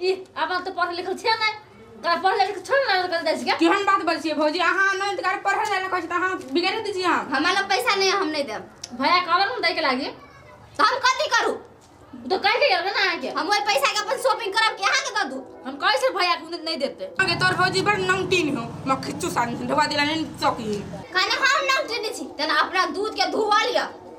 ई अपन तो पढ़ल लिखल छे ना का पढ़ल लिखल छोड़ ना कर दे छिए केहन बात बोल छिए भौजी अहाँ अनंत कर पढ़ल जाय लखै छी त अहाँ बिगाड़ दै छी हम हमरा लग पैसा नहीं हम नहीं देब भैया कहलन हम दे के लागी तो हम कथी करू तो कह के गेल ना अहाँ के हम ओइ पैसा के अपन शॉपिंग करब के अहाँ के द दू हम कहे से भैया के नहीं देते आगे तोर भौजी बड़ नमकीन हो म खिच्चू सान ढवा दिला नहीं चौकी खाना हम ना उठने छी तना अपना दूध के धुआ लिया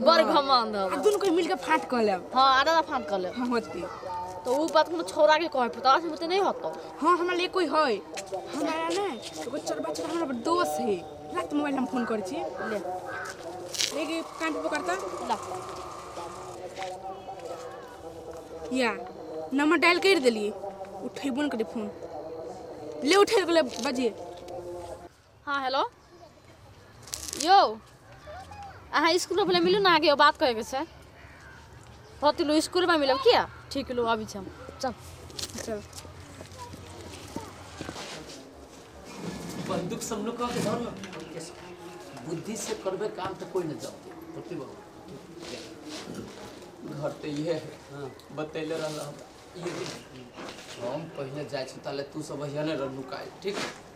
बड़ घमंड आ हो दुनू के मिल के फाट कऽ लेब हाँ आधा आधा फाँट कर ले हम होती तो ऊ बात कोनो छोरा के कहे पता से मुझे नहीं होता हाँ हमरा लिए कोई है हमारा ने एगो चरबा चरबा हमरा दोस्त है रात मोबाइल हम फोन करै छी ले लेके कान पे पकड़ता ला या नंबर डायल कर देली उठेबो ने करे फोन ले उठे गेलै बजिए हाँ हेलो यो अहाँ इसकुलमे पहिले मिलू ने अहाँके एगो बात कहैके छै बहुत लो इसकुलमे मिलब किया ठीक लो अभी छै हम चल चल बंदूक सब लोग के धर लो बुद्धि से करबे काम तो कोई न जाओ ओके बाबू घर तो ये है हाँ बतैले रहल हमरा। ये देख, हम पहले जाए छी ताले तू सब यहाँ रहनु काहे ठीक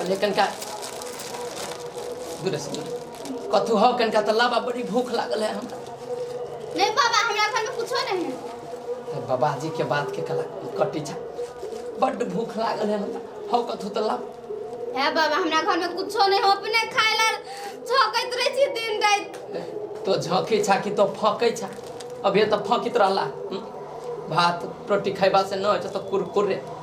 अरे कनिका दूर से दूर कथू हौ कनिका तऽ लाबा बड़ी भूख लागल है हमरा नहीं बाबा हमरा घर में कुछो नहीं है हे बाबाजी के बात के कला कटी छा बड्ड भूख लागल है हमरा हौ कथू तऽ लाब है बाबा हमरा घर में कुछो नहीं हो अपने खाए ला झोकैत रहे छी दिन रात तो झँकी छा कि तो फँकै छा अभी तऽ फँकित रहला हम्म? भात रोटी खैबा से न होइ छै तऽ कुरकुरे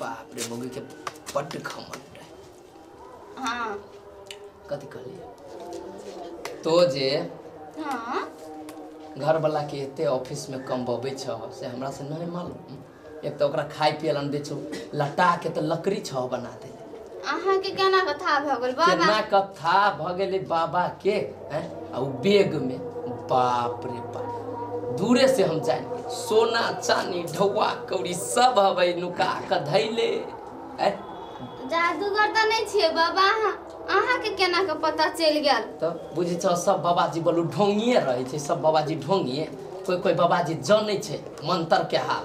बाप रे मौगी के बड्ड घमंड है हाँ कथी कहलिए तो जे हाँ घरवाला के एते ऑफिस में कमबबै छ से हमरा से नहीं मालूम एक तो ओकरा खाय पिए ला नहि दै छौ लटा के तो लकड़ी छह बना दे अहाँ के केना कथा भऽ गेल बाबा केना कथा भऽ गेलै बाबा के हैं आ उ बेग में बाप रे बाप दूरे से हम जान गेल सोना चानी ढौआ कौड़ी सब हबै नुका के धैले हैं जादूगर तऽ नहि छियै बाबा अहाँ अहाँके केना कऽ पता चलि गेल तऽ बुझै छौ सब बाबाजी बोलू ढोंगिए रहै छै सब बाबाजी ढोंगिए कोइ कोइ बाबाजी जानै छै मंतर के हाल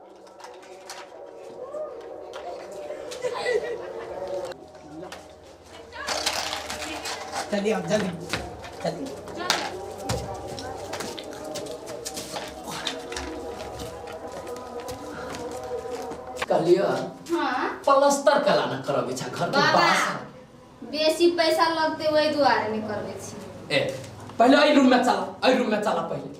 चलिए आप जल्दी चलिए कहलियो हाँ प्लस्तर कला न करब इच्छा घर के बाबा बाहर बेसी पैसा लगते वही दुआरे नहीं करबे छी ए पहले अई रूम में चला अई रूम में चला पहले